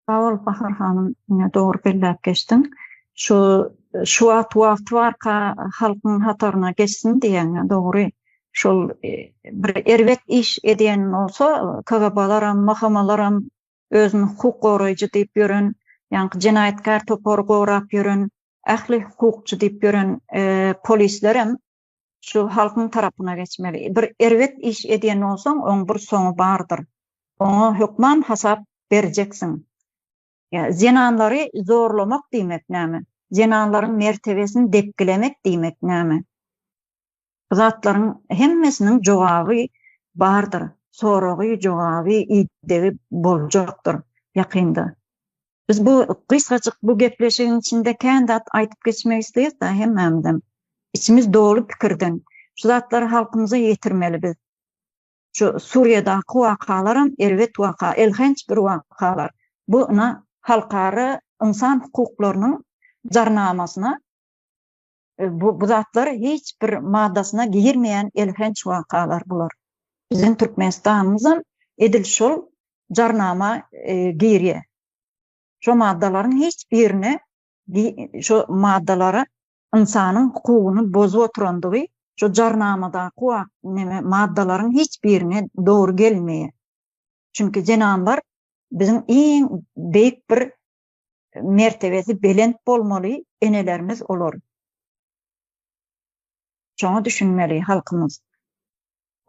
Sag bol Bahar hanym, ine dogry belläp geçdiň. Şu şu wagt wagty barka halkyň hataryna geçsin diýýän dogry. Şol e, bir erbet iş edýän bolsa KGB-laram, MHM-laram özüni hukuk goraýjy diýip ýören, ýaňky jenaýatkär topary gorap ýören, ähli hukukçy diýip ýören e, polislerem şu halkyň tarapyna geçmeli. Bir erbet iş edýän bolsaň, oň bir soňy bardyr. Oňa hökman hasap berjeksiň. Ýa zenanlary zorlamak diýmek näme? Zenanlaryň mertebesini depgilemek diýmek näme? Bu zatlaryň hemmesiniň jogaby bardyr. Soragy, jogaby, idegi boljakdyr ýakynda. Biz bu gysgajyk bu gepleşigiň içinde kän zat aýdyp geçmek isleýäs-de hemmämizem. Içimiz doly pikirden. Şu zatlary halkymyza ýetirmeli biz. Şu Suriýadaky wakalaram erbet waka, elhenç bir wakalar. Bu ýna halkara ynsan hukuklarynyň jarnamasyna E, bu, bu zatlar hiç bir maddasyna girmeýän elhenç wakalar bular. Biziň Türkmenistanymyz hem edil şol jarnama e, girýär. Şo maddalaryň hiç birine şo maddalara ynsanyň hukugyny bozup oturandygy şu jarnamadaky wak neme maddalaryň hiç birine dogry gelmeýär. Çünki zenanlar biziň iň beýik bir mertebesi belent bolmaly enelerimiz olar şoňa düşünmeli halkymyz.